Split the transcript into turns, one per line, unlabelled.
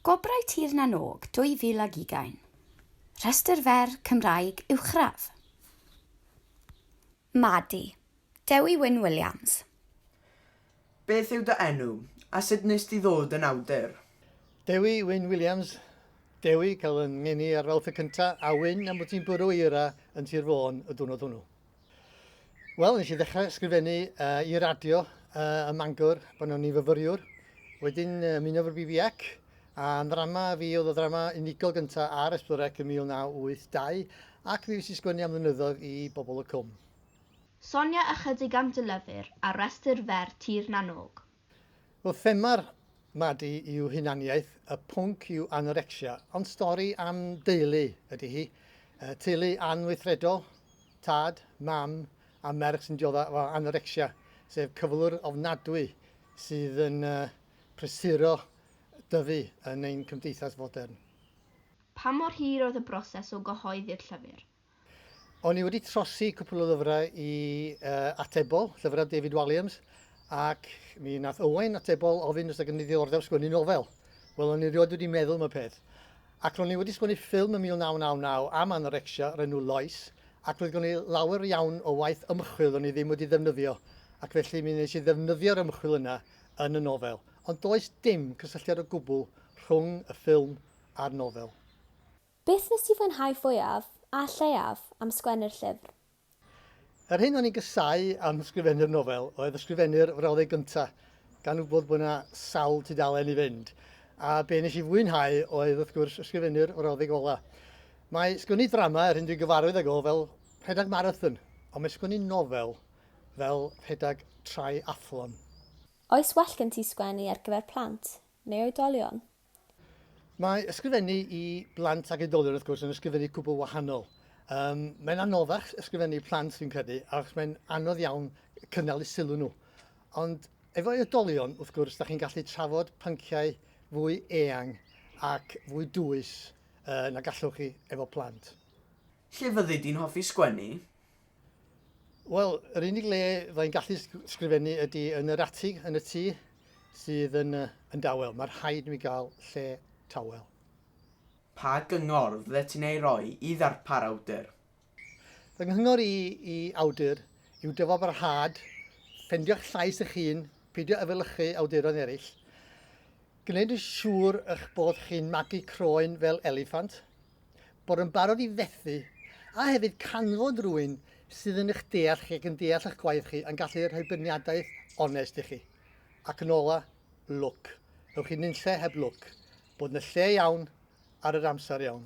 Gwobrau Tir na n-Og 2020. Rhestr fer Cymraeg uwchradd. Madi. Dewi Wyn Williams.
Beth yw dy enw, a sut wnest ti ddod yn awdur? Dewi Wyn
Williams, Dewi, cael fy ngeni ar Fawrth y Cyntaf, a Wyn, am fod ti'n bwrw eira yn Sir Fôn y diwrnod hwnnw. Wel, nes i ddechrau ysgrifennu uh, i radio uh, ym Mangor pan o'n i'n fyfyriwr. Wedyn uh, ymuno efo'r BBEC a ddrama fi oedd y ddrama unigol gyntaf ar Esbyrec yn 1982 ac mi fes i sgwennu am ddynyddoedd i bobl y cwm. Sonia
ychydig am dy lyfr ar restr fer Tir na n-Og. Wel, thema'r
Madi yw hunaniaeth, y pwnc yw anorecsia, ond stori am deulu ydy hi. Teulu anweithredol, tad, mam a merch sy'n diodda' o anorecsia, sef cyflwr ofnadwy sydd yn prysuro dyfu yn ein cymdeithas fodern. Pa
mor hir oedd y broses o gyhoeddi'r llyfr?
O'n i wedi trosi cwpl o lyfrau i uh, atebol, llyfrau David Walliams, ac mi nath Owain atebol ofyn os ag yn ddiddordeb sgwennu nofel. Wel, o'n i rioed wedi meddwl am y peth. Ac ro'n i wedi sgwennu ffilm yn 1999 am anorecsia o'r enw Lois, ac roedd gen i lawer iawn o waith ymchwil o'n i ddim wedi ddefnyddio, ac felly mi nes i ddefnyddio'r ymchwil yna yn y nofel. Ond does dim cysylltiad o gwbl rhwng y ffilm a'r nofel. Beth
nes ti fwynhau fwyaf, a lleiaf, am sgwennu'r llyfr? Yr
hyn o'n i'n gasau am ysgrifennu'r nofel oedd ysgrifennu'r frawddeg gyntaf, gan wybod bod 'na sawl tudalen i fynd. A be nes i fwynhau oedd, wrth gwrs, ysgrifennu'r frawddeg ola. Mae sgwennu drama, yr hyn dwi'n gyfarwydd ag o, fel rhedeg marathon, ond mae sgwennu nofel fel rhedeg triathlon. Oes
well gen ti sgwennu ar gyfer plant, neu oedolion?
Mae ysgrifennu i blant ac oedolion wrth gwrs yn ysgrifennu cwbl wahanol. Um, mae'n anoddach ysgrifennu plant fi'n credu, achos mae'n anodd iawn cynnal y sylw nhw. Ond efo oedolion, wrth gwrs, da chi'n gallu trafod pynciau fwy eang ac fwy dwys uh, na gallwch chi efo plant. Lle fyddi
di'n hoffi sgwennu?
Wel, yr unig le fydda i'n gallu sgrifennu ydy yn yr atig yn y tŷ sydd yn, uh, yn dawel. Mae rhaid i mi gael lle tawel.
Pa gyngor fyddet ti'n ei roi i ddarpar awdur? Fy
nghyngor i i awdur yw dyfabrhad, ffendio'ch llais eich hun, peidio efelychu awduron eraill, gwneud yn siŵr eich bod chi'n magu croen fel eliffant, bod yn barod i fethu, a hefyd canfod rwy'n sydd yn eich deall chi ac yn deall eich gwaith chi yn gallu rhoi byrniadaeth onest i chi. Ac yn ola, lwc. Ewch i nunlle heb lwc. Bod yn y lle iawn ar yr amser iawn.